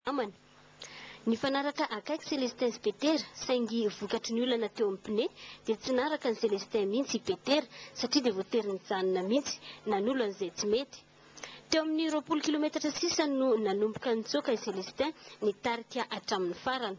namany. Nifanaraka akaiky Celestin sy Petera, saingy vokatry ny olana teo amin'ny pneu dia tsy naraka an'i Celestin mihitsy i Petera satria dia voatery nijanona mihitsy nanolo an'izay tsy mety. Teo amin'ny roapolo kilometatra sisa no nanomboka nitsoaka i Celestin nitarika hatramin'ny farany.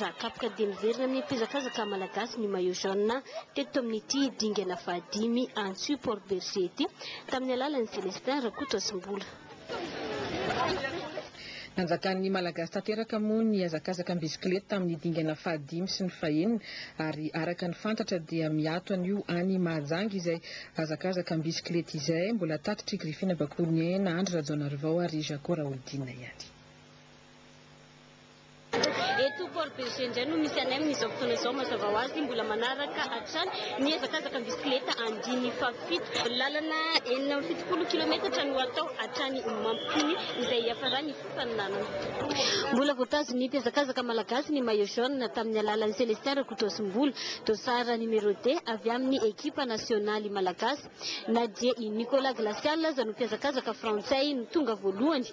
Raha kapoka dia miverina amin'ny mpihazakazaka malagasy ny maillot jaune teto amin'ity dingana fahadimy Antsu Port Bergé ity tamin'ny alalan'i Celestin Rakotozimbola. Nanjakan'ny Malagasy tanteraka moa ny hazakazaka am-bisikileta tamin'ny dingana fahadimy sy ny fahenina ary araka ny fantatra dia miato anio any Mahajanga izay hazakazaka am-bisikileta izay. Mbola tatitr'i Griffine Bakounien, Andry Rajaonarivao ary Jaco Raholdina ihany. Eto Port Bergé indray no misy anay amin'izao fotoana izao. Mazava ho azy, mbola manaraka hatrany ny hazakazaka bisikileta andininy fahafito. Lalana enina amby fitopolo kilometatra no atao hatrany Mampitony, izay hiafaran'ny fifaninanana. Mbola voatazon'ny mpihazakazaka malagasy ny maillot jaune tamin'ny alalan'i Celestin Rakotoasimbola, dossard numéro deux avy amin'ny ekipa nasionaly malagasy. Na dia i Nicolas Glacial aza no mpihazakazaka frantsay no tonga voalohany,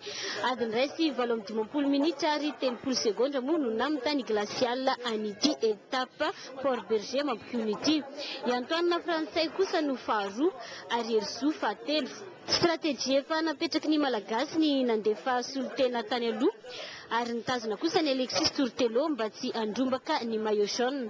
adiny iray sy valo amby dimampolo minitra ary telopolo segondra moa no namintan'i Glacial an'ity etape Port Bergé mampihono ity. I Antoine frantsay kosa no faharoa ary Herizo fahatelo. Strategie efa napetraky ny Malagasy ny nandefa solontena tany aloha ary nitazona kosa an'i Alexis Tourtelot mba tsy handrombaka ny maillot jaune.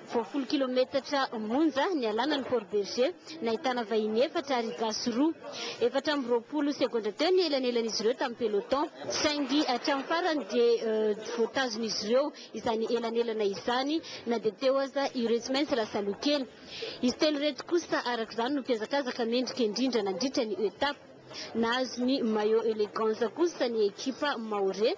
Vao folo kilometatra monja nialana ny Fort Berger, nahitana vahiny efatra ary gasy roa. Efatra amby roapolo segondra teo ny elanelan'izy ireo tamin'ny peloton, saingy hatramin'ny farany dia voatazon'izy ireo izany elanelana izany na dia teo aza ireo tsy maintsy lasa aloha kely. Izy telo ireto kosa araka izany no mpiazakazaka mendrika indrindra nandritra ny etape. Nahazo ny maillot Elegance kosa ny ekipa Maore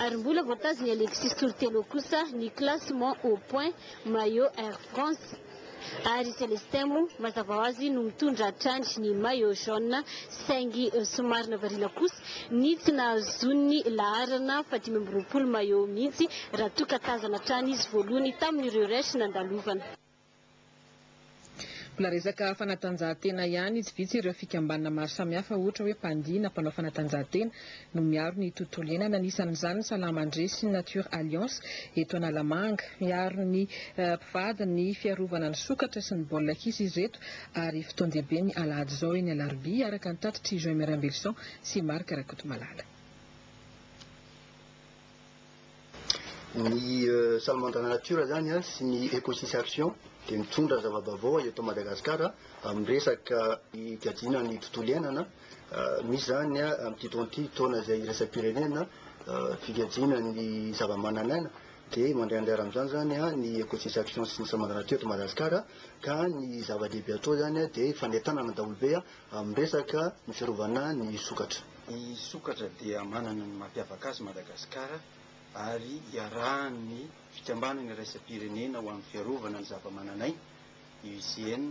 ary mbola voatazon'i Alexis Toritelo kosa ny classement au point maillot Air France ary i Celestin moa mazava ho azy no mitondra hatrany ny maillot jaune saingy somary nahavariana kosa ny tsy nahazoany laharana fahadimy amby roapolo maillot mihitsy raha toa ka tazana hatrany izy voalohany tamin'ireo resh nandalovana Mbola resaka fanatanjahantena ihany, tsy vitsy ireo fikambanana maro samihafa ohatra hoe mpandihy na mpanao fanatanjahantena no miaro ny tontolo iainana, anisan'izany ny Salamandria sy ny Nature Alliance eto Analamanga. Miaro ny mpivady ny fiarovana ny sokatra sy ny baolina kitra izy ireto ary fotoan-dehibe ny alahady izao eny Alarobia, araka ny tatitr'i Joymer Imbelison sy Marc Rakotomalala. Ny Salamandra na natiora zany a sy ny Ecosis Action dia mitondra zava-baovao eto Madagasikara amin'ny resaka fikajiana ny tontolo iainana. Misy zany a amin'ity taona ity, taona izay iraisam-pirenena fikajiana ny zava-manan'aina, dia mandray anjara amin'izany zany a ny Ecosis Action sy ny Salamandra natiora eto Madagasikara, ka ny zava-dehibe atao zany a dia fanentanana daholo be a amin'ny resaka ny fiarovana ny sokatra. Ny sokatra dia manana ny mampiavaka azy Madagasikara ary iarahan'ny Fikambanana iraisam-pirenena ho amin'ny fiarovana ny zavamananaina, IUCN,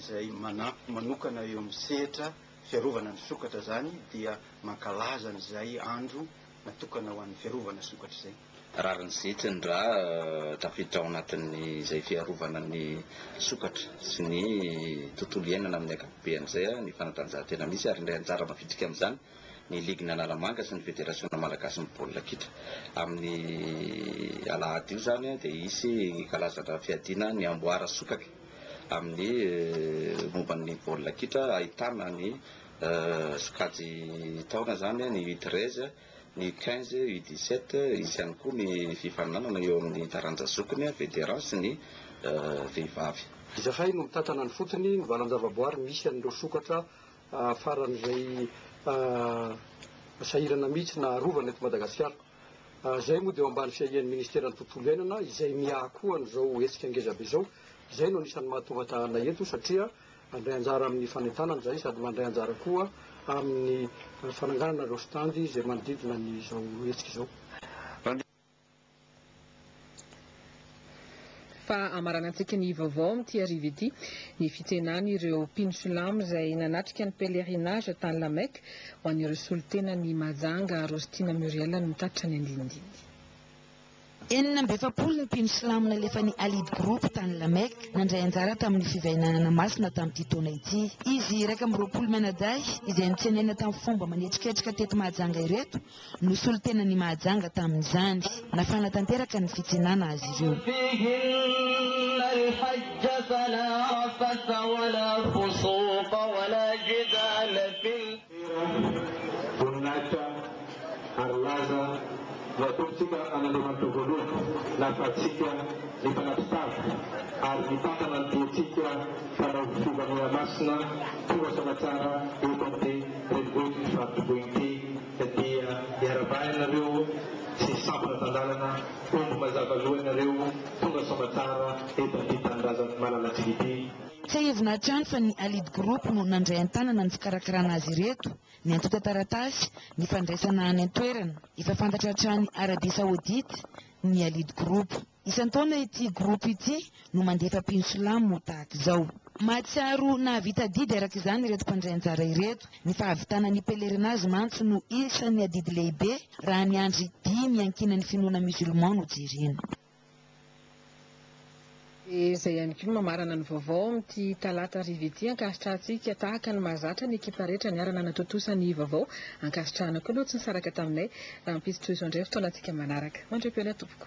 izay manampy manokana eo amin'ny sehatra fiarovana ny sokatra izany dia mankalaza an'izay andro natokana ho an'ny fiarovana sokatr'izay. Rariny zitra ny rà tafiditra ao anatin'izay fiarovana ny sokatra sy ny tontolo iainana amin'ny ankapobeny izay ny fanatanjahantena misy ary indray anjara mavitrika amin'izany ny Ligin'ny Analamanga sy ny Federasiona malagasin'ny baolina kitra. Amin'ny alahady io izany dia hisy kalazana fiadiana ny amboara sokatra amin'ny momba ny baolina kitra ahitana ny sokajy taona izany ny U treize, ny U quinze, U dix sept, hisy ihany koa ny fifaninanana eo amin'ny taranja zokiny, vétérans, sy ny vehivavy. Izahay no mitantana ny fotony, ny valan-javaboary misy an'ireo sokatra faran'izay sahirana mihitsy na arovana eto Madagasikara. Izay moa dia eo ambany fiahian'ny Ministeran'ny Tontolo Iainana izay miaha koa an'izao hetsika ngezabe izao. Izay no anisan'ny mahatonga ahy eto satria. Mandray anjara amin'ny fanentanana izay sady mandray anjara koa amin'ny fananganana ireo stand izay manodidina ny izao hetsika izao. Fahamaranantsika ny vaovao amin'ity hariva ity, ny fitsenan'ireo mpino silamo izay nanatrika ny pèlerinage tany La Mecque ho an'ireo solontenan'i Majanga Rostina Muriel no tatitra ny andinindininy. Enina amby efapolo ny mpino silamo nalefan'ny Allied Group tany La Mecque nandray anjara tamin'ny fivainanana masina tamin'ity taona ity. Izy iraika amby roapolo mianadahy izay notsenaina tamin'ny fomba manetriketrika teto Mahajanga ireto no solontenan'i Mahajanga tamin'izany. Nafana tanteraka ny fitsenana azy ireo. Tera, voninahitra ary laza no atompotsika an'Andriamanitra voalohany, nahafahantsika ny mpanampy tavy ary nitantana ny diantsika mpanao fivavahana masina tonga soa tsara eto amin'ity renivohitr'i Faritoboi ity, dia iaravaha ianareo sy sampona tan-dalana, omby mazava loha ianareo tonga soa aman-tsara eto amin'ity tanindrazan'ny malalantsika ity. Tsiahivina hatrany fa ny Allied Group no nandray an-tanana ny fikarakarana azy ireto, ny antontan-taratasy, ny fandraisana any an-toerana. Efa fantatra hatrany Arabia Saodita ny Allied Group. Isan-taona ity groupe ity no mandefa mpino silamo tahaka izao. Mahatsiaro nahavita adidy araka izany ireto mpandray anjara ireto. Ny fahavitana ny pèlerinage mantsy no isan'ny adidy lehibe raha ny andry dimy iankinan'ny finoana musulman no jerena. Dia izay ihany koa no mamarana ny vaovao amin'ity talata hariva ity ankasitrahantsika tahaka ny mahazatra ny ekipa rehetra niara-nanatontosa ny vaovao. Ankasitrahana koa ireo tsy nisaraka taminay. Rahampitso tohizo indray fotoanantsika manaraka. Mandria am-peo ny atompoko.